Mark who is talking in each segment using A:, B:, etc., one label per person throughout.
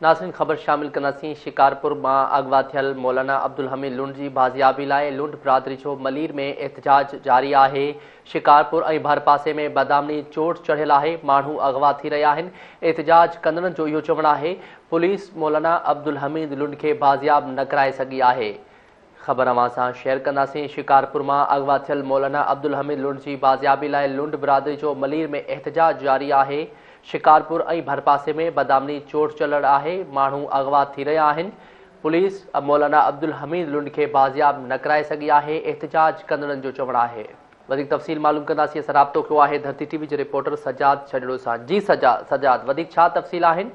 A: ناظرين خبر شامل ڪنداسين شڪارپور مان اغوا ٿيل مولانا عبدالحميد لنڊ جي بازيابي لاء لنڊ برادري جو ملير ۾ احتجاج جاري آهي شڪارپور ۽ ڀرپاسي ۾ بدامني چوٽ چڙهيل آهي ماڻهو اغوا ٿي رهيا آهن احتجاج ڪندڙن جو اهو چوڻ آهي پوليس مولانا عبدالحميد لنڊ کي بازياب نه ڪرائي سگهي آهي خبر اوهان سان شيئر ڪنداسين، شڪارپور مان اغوا ٿيل مولانا عبدالحميد لنڊ جي بازيابي لاء لنڊ برادري جو ملير ۾ احتجاج جاري آهي، شڪارپور ۽ ڀرپاسي ۾ بدامني چوٽ چلڙ آهي، ماڻهو اغوا ٿي رهيا آهن، پوليس مولانا عبدالحميد لنڊ کي بازياب نه ڪرائي سگهي آهي، احتجاج ڪندڙن جو چوڻ آهي. وڌيڪ تفصيل معلوم ڪنداسين، اسان رابطو ڪيو آهي ڌرتي ٽي وي جي رپورٽر سجاد ڇڄڙو سان، جي سجاد سجاد وڌيڪ ڇا تفصيل آهن؟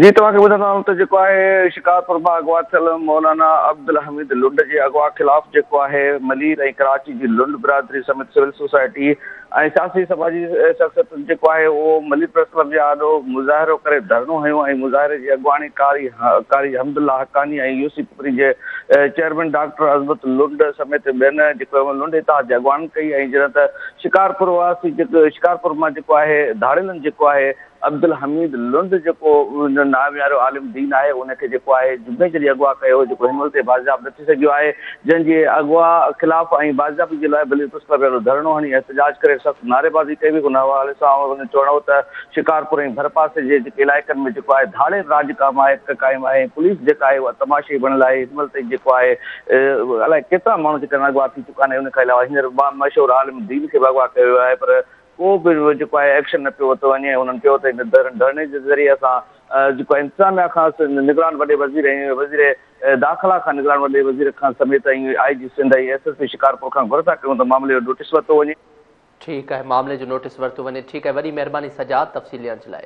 A: جي توهان کي
B: ٻڌندا آهيون ته جيڪو آهي شڪارپور مان اغوا ٿيل مولانا عبدالحميد لنڊ جي اغوا خلاف جيڪو آهي ملير ۽ ڪراچي جي لنڊ برادري سميت سول سوسائٽي ۽ سياسي سماجي شخصيتن جيڪو آهي اهو ملير پريس ڪلب جي آڏو مظاهرو ڪري ڌرڻو هنيو ۽ مظاهري جي اڳواڻي قاري قاري حمدالله حقاني ۽ يوسي پپري جي چيئرمين ڊاڪٽر عظمت لنڊ سميت ٻين جيڪو لنڊ اتحاد جي اڳواڻن ڪئي ۽ جڏهن ته شڪارپور واسي جيڪو شڪارپور مان جيڪو آهي ڌاڙيلن جيڪو آهي عبدالحميد لنڊ جيڪو ناميارو عالم دين آهي ان کي جيڪو آهي جمعي جي ڏينهن اغوا ڪيو هو جيڪو هنمهل تائين بازياب نه ٿي سگهيو آهي جنهن جي اغوا خلاف ۽ بازيابي جي لاء بلي پريس ڪلب اهڙو ڌرڻو هڻي احتجاج ڪري سخت نعريبازي ڪئي وئي ان حوالي سان ان جو چوڻ هو ته شڪارپور ۽ ڀرپاسي جي جيڪي علائقن ۾ جيڪو آهي ڌاڙيل راڄ قائم آهي قائم آهي ۽ پوليس جيڪا آهي اها تماشائي بڻيل آهي هنمهل تائين جيڪو آهي الائي ڪيترا ماڻهو جيڪا اغوا ٿي چڪا آهن ان کان علاوه هينئر مشهور عالم دين کي به اغوا ڪيو ويو آهي پر ڪو به جيڪو آهي ايڪشن نه پيو ورتو وڃي ۽ هنن چيو ته هن ڌرڻي جي ذريعي اسان جيڪو آهي انتظاميا کان نگران وڏي وزير ۽ وزير داخلا کان نگران وڏي وزير کان سميت ۽ I G Sindh ۽ S S P Shikarpur کان گهر ٿا ڪيون ته معاملي جو نوٽيس ورتو وڃي. ٺيڪ
A: آهي معاملي جو نوٽيس ورتو وڃي. ٺيڪ آهي وڏي مهرباني سجاد تفصيل
B: ڏيڻ
A: جي لاء.